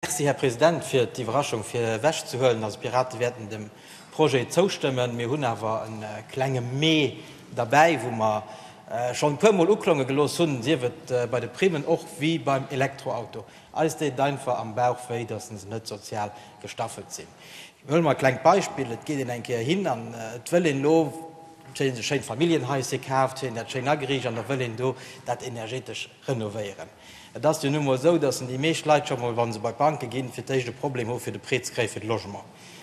Merci, Här President, fir d'Iwwerraschung virwegzehuelen. Also, d'Pirate wäerten dem Projet zoustëmmen. Mir hunn awer e klenge Mais derbäi, wou mer schonn e puermol uklonge gelooss hunn, sief et bei de Primen och wéi beim Elektroauto. Eis deet et einfach am Bauch wéi, dass se net sozial gestaffelt sinn. Huele mer e klengt Beispill, Et geet een eng Kéier hin an et wëll een elo, schéi, e schéint Familljenhais hir kaaft, fir een dat schéin ageriicht an da wëll een do dat energetesch, renovéieren. Et ass jo nu emol esou, dass déi meescht Leit scho mol, wa se bei d'Banke ginn, fir d'éischt e Problem hu fir de Prêt ze kréien fir de Logement.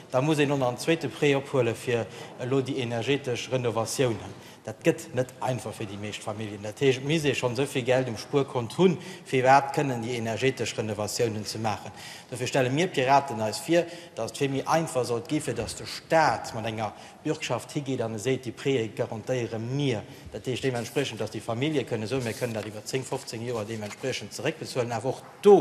Da muss een elo nach en zweete Prêt ophuelen, fir elo déi energetesch Renovatiounen. Dat gëtt net einfach fir déi meescht Familljen. Dat heescht, et misst ee schonn esou vill Geld um Spuerkont hunn, fir iwwerhaapt kënnen déi energetesch Renovatiounen ze maachen. Dofir stelle mir Piraten eis vir, dass et vill méi einfach sollt gi fir dass de Staat mat enger Bürgschaft higeet an e seet, déi Préë garantéiere mir. Dat heescht deementspriechend, datt déi Famillje kënne soen, mir kënnen dat iwwer 10, 15 Joer deementspriechend zeréckbezuelen, awer och do,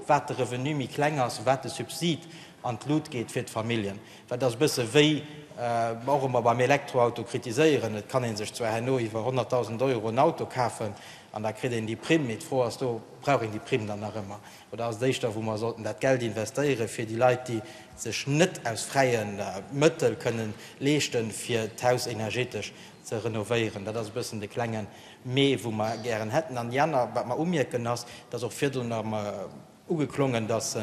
wat de Revenu méi kleng ass, wat de Subsid an d'Lut geet fir d'Familljen. Dat ass e bësse wéi mer och ëmmer beim Elektroauto kritiséieren, et kann ee sech zwar herno iwwer 100.000 Euro en Auto kafen an da kritt een déi Primm, mee d'Fro ass do, brauch een déi Primm dann nach ëmmer? Oder ass et éischter, wou mer sollten dat Geld investéieren, fir déi Leit, déi et sech net aus fräie Mëttel kënnen leeschten, fir d'Haus energetesch ze renovéieren? Dat ass e bëssen de klenge Mais, wou mer gären hätten. An déi aner, wat mer umierken, ass, dass och virdrun erëm ugeklongen, dass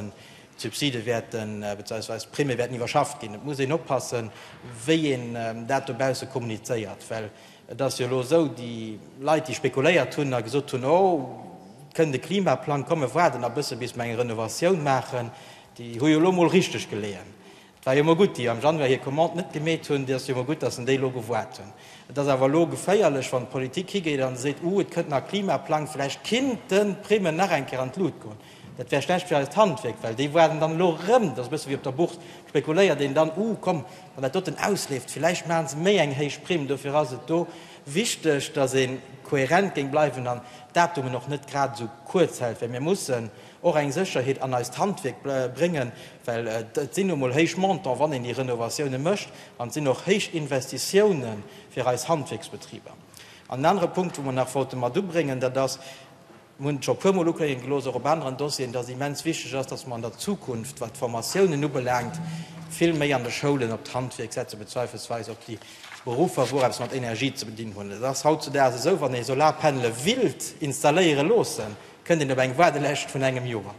d'Subside wäerten, beziehungsweise d'Primme wäerten iwwerschafft ginn. Et muss een oppassen, wéi een dat dobausse kommunizéiert, well Et ass jo elo esou, déi Leit, déi spekuléiert hunn a gesot hunn, oh, et kënnt e Klimaplang, komm mir waarden nach e bësse bis mir eng Renovatioun maachen, déi hu jo elo emol richteg geleeën. Et war jo emol gutt, déi am Januar hir Commande net gemeet hunn, et ass jo emol gutt, datt se déi elo gewaart hunn. Et ass awer elo geféierlech, wann d'Politik higeet a seet, uh, et kënnt nach e Klimaplang, vläicht kinnten d'Primmen nach eng Kéier an d'Lut goen. Dat wär schlecht fir eist Handwierk, well déi waarden dann elo erëm, dat ass e bësse wéi op der Bourse, spekuléiert een dann, uh komm, wann dat doten ausleeft, villäicht maache se méi eng héich Primm. Dofir ass et do wichteg, datt ee kohärent géing bleiwen an d'Datumen och net grad esou kuerz hält, well mir mussen och eng Sécherheet an eist Handwierk bréngen, well et sinn nu emol héich Montante, wann een déi Renovatioune mécht, an et sinn och héich Investitioune fir eis Handwierksbetriber. An en anere Punkt, wou mer nach wollte mat ubréngen, dat ass, Mir hunn et scho e puer Mol uklénge gelooss, och op aneren Dossieren, dass et immens wichteg ass, dass mer an der Zukunft, wat d'Formatiounen ubelaangt, vill méi an de Schoulen op d'Handwierk setzen, bezweifelsweis op déi Beruffer, wou eppes mat Energie ze bedinn hunn. Et ass hautzudags esou, wann ee Solarpannele willt installéiere loossen, kënnt een op eng Waardelescht vun engem Joer.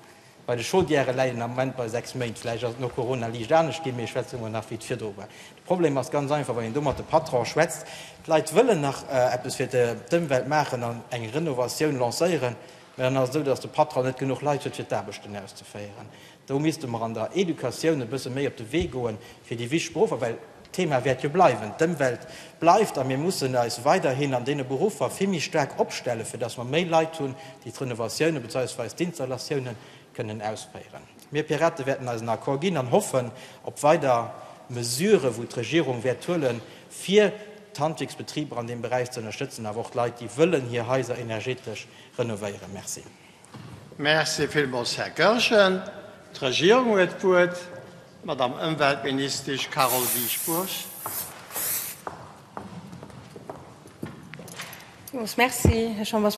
Bei de Chaudièrë läit en am Moment bei 6 Méint. Vläicht ass et no Corona liicht anescht ginn, mee ech schwätze mol nach wéi et virdru war. De Problem ass ganz einfach, wann een do mat de Patronen schwätzt, d'Leit wëllen nach eppes fir d'Ëmwelt maachen an eng Renovatioun lancéieren, mä dann ass et esou, datt de Patron net genuch Leit huet fir d'Aarbechten auszeféieren. Do misste mer an der Educatioun e bësse méi op de Wee goen, fir déi wichteg Beruffer, well D'Thema wäert jo bleiwen. D'Ëmwelt bleift a mir mussen eis weiderhin an deene Beruffer vill méi staark opstellen, fir datt mer méi Leit hunn, déi d'Renovatioune bezeiwsweis d'Installatioune kënnen ausféieren. Mir Piraten wäerten eisen Accord ginn an hoffen op weider Mesuren, wou d'Regierung wäert huelen, fir d'Handwierksbetriber an deem Beräich ze ënnerstëtzen, awer och d'Leit, déi wëllen hir Haiser energetesch renovéieren. Merci. Merci villmools, Här Goergen. D'Regierung huet d'Wuert, d'Madame Ëmweltministesch Carole Dieschbourg.